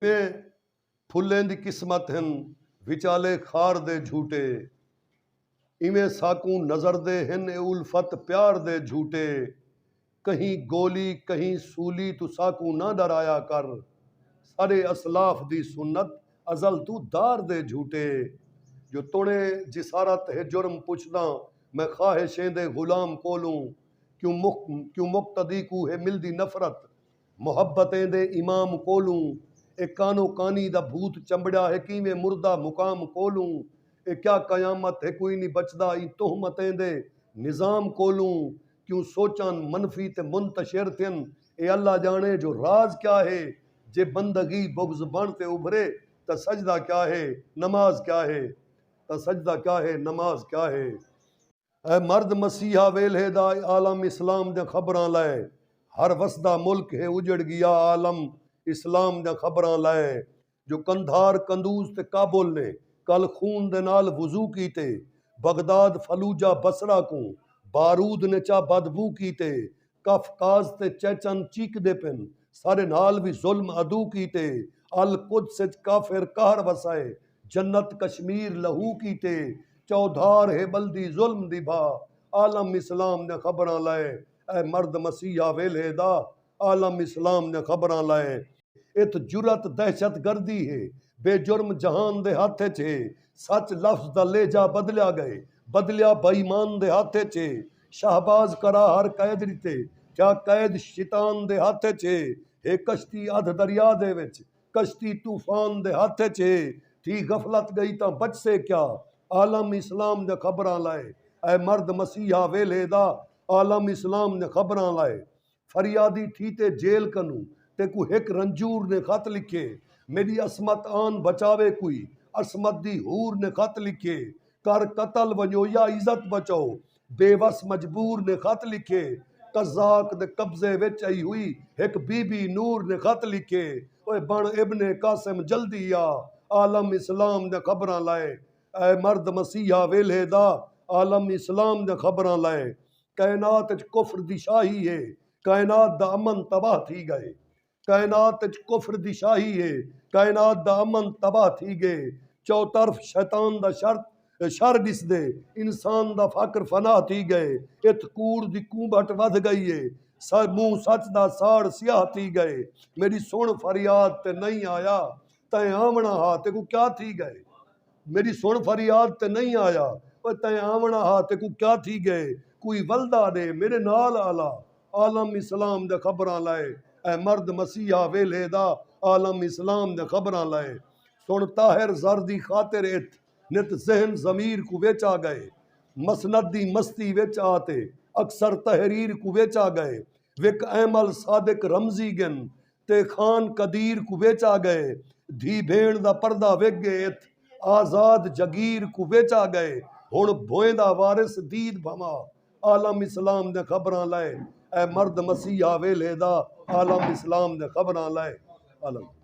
اے پھلیں دی قسمت ہن وچالے خار دے جھوٹے ایویں ساکوں نظر دے ہن اے الفت پیار دے جھوٹے کہیں گولی کہیں سولی توں ساکوں نہ ݙرایا کر ساݙے اسلاف دی سنت ازل توں دار دے جھوٹے جو توݨیں جسارت ہے جرم پچھداں میں خواہشیں دے غلام کولوں کیوں مقتدی کوں ہے ملدی نفرت محبت ایندے امام کولوں اے کانو کانی دا بھوت چمبڑیا ہے کیویں مردہ مقام کولوں اے کیا قیامت ہے کوئی نی بچدا ایں تہمت ایندے نظام کولوں کیوں سوچان منفی تے منتشر تھین اے اللہ جانے جو راز کیا ہے جے بندگی بغض بن تے ابھرے تاں سجدہ کیا ہے نماز کیا ہے تاں سجدہ کیا ہے نماز کیا ہے۔ اے مرد مسیحا ویلھے دا اے عالم اسلام دیاں خبراں لئے ہر وسدا ملک ہے اجڑ گیا عالم اسلام دیاں خبراں لئے جو قندھار قندوز تے کابل نے کل خون دے نال وضو کیتے بغداد فلوجہ بصرہ کوں بارود نے چا بدبو کیتے قفقاز تے چیچن چیکدے پن ساڈے نال وی ظلم عدو کیتے القدس اچ کافر قہر وسائے جنت کشمیر لہو کیتے چودھار ہے بلدی ظلم دی بھا عالم اسلام دیاں خبراں لائے اے مرد مسیحا ویلھے دا عالم اسلام دیاں خبراں لائے اتھ جرات دہشت گردی ہے بے جرم جہان دے ہتھ اچ ہے سچ لفظ دا لہجہ بدلیا گئے بدلیا بے ایمان دے ہتھ اچ ہے شہباز کرا ہر قید ڈتے کیا قید شیطان دے ہتھ اچ ہے ہے کشتی ادھ دریا دے وچ کشتی طوفان دے ہتھ اچ ہے تھی غفلت گئی تاں بچسے کیا عالم اسلام دیاں خبراں لائے اے مرد مسیحا ویلھے دا عالم اسلام دیاں خبراں لائے۔ فریادی تھی تے جیل کنوں تیکوں ہک رنجور نے خط لکھیے میݙی عصمت آن بچاوے کوئی عصمت دی حور نے خط لکھیے کر قتل ونڄو یا عزت بچاؤ بے وس مجبور نے خط لکھیے قزاق دے قبضے وچ ای ہوئی ہک بی بی نور نے خط لکھیے اوئے بݨ ابن قاسم جلدی آ عالم اسلام دیاں خبراں لائے اے مرد مسیحا ویلھے دا عالم اسلام دیاں خبراں لائے۔ کائنات اچ کفر دی شاہی ہے کائنات دا امن تباہ تھی گئے کائنات اچ کفر دی شاہی ہے کائنات دا امن تباہ تھی گئے چوطرف شیطان دا شر شر ݙسدے انسان دا فقر فنا تھی گئے اتھ کوڑ دی کونبھٹ ودھ گئی ہے منہ سچ دا ساڑ سیاہ تھی گئے میݙی سݨ فریاد تے نئیں آیا تیں آوݨا ہا تیکوں کیا تھی ڳئے میݙی سݨ فریاد تے نئیں آیا او تیں آوݨا ہا تیکوں کیا تھی ڳئے کوئی ولدا ݙے میݙے نال آلا عالم اسلام دے خبراں لائے اے مرد مسیحا ویلھے دا عالم اسلام دے خبراں لائے سݨ طاہر زر دی خاطر ات نت ذہن ضمیر کوں وچ آ ڳئے مسند دی مستی وچ آ تے اکثر تحریر کوں وچ آ ڳئے وک ایمل صادق رمزی ڳن تے خان قدیر کوں وچ آ ڳئے دھی بھیݨ دا پردہ وک ڳئے ات آزاد جگیر کوں وچ آ ڳئے ہݨ بھویندا وارث دید بھنوا عالم اسلام دے خبراں لائے اے مرد مسیحا ویلھے دا عالم اسلام دے خبراں لائے عالم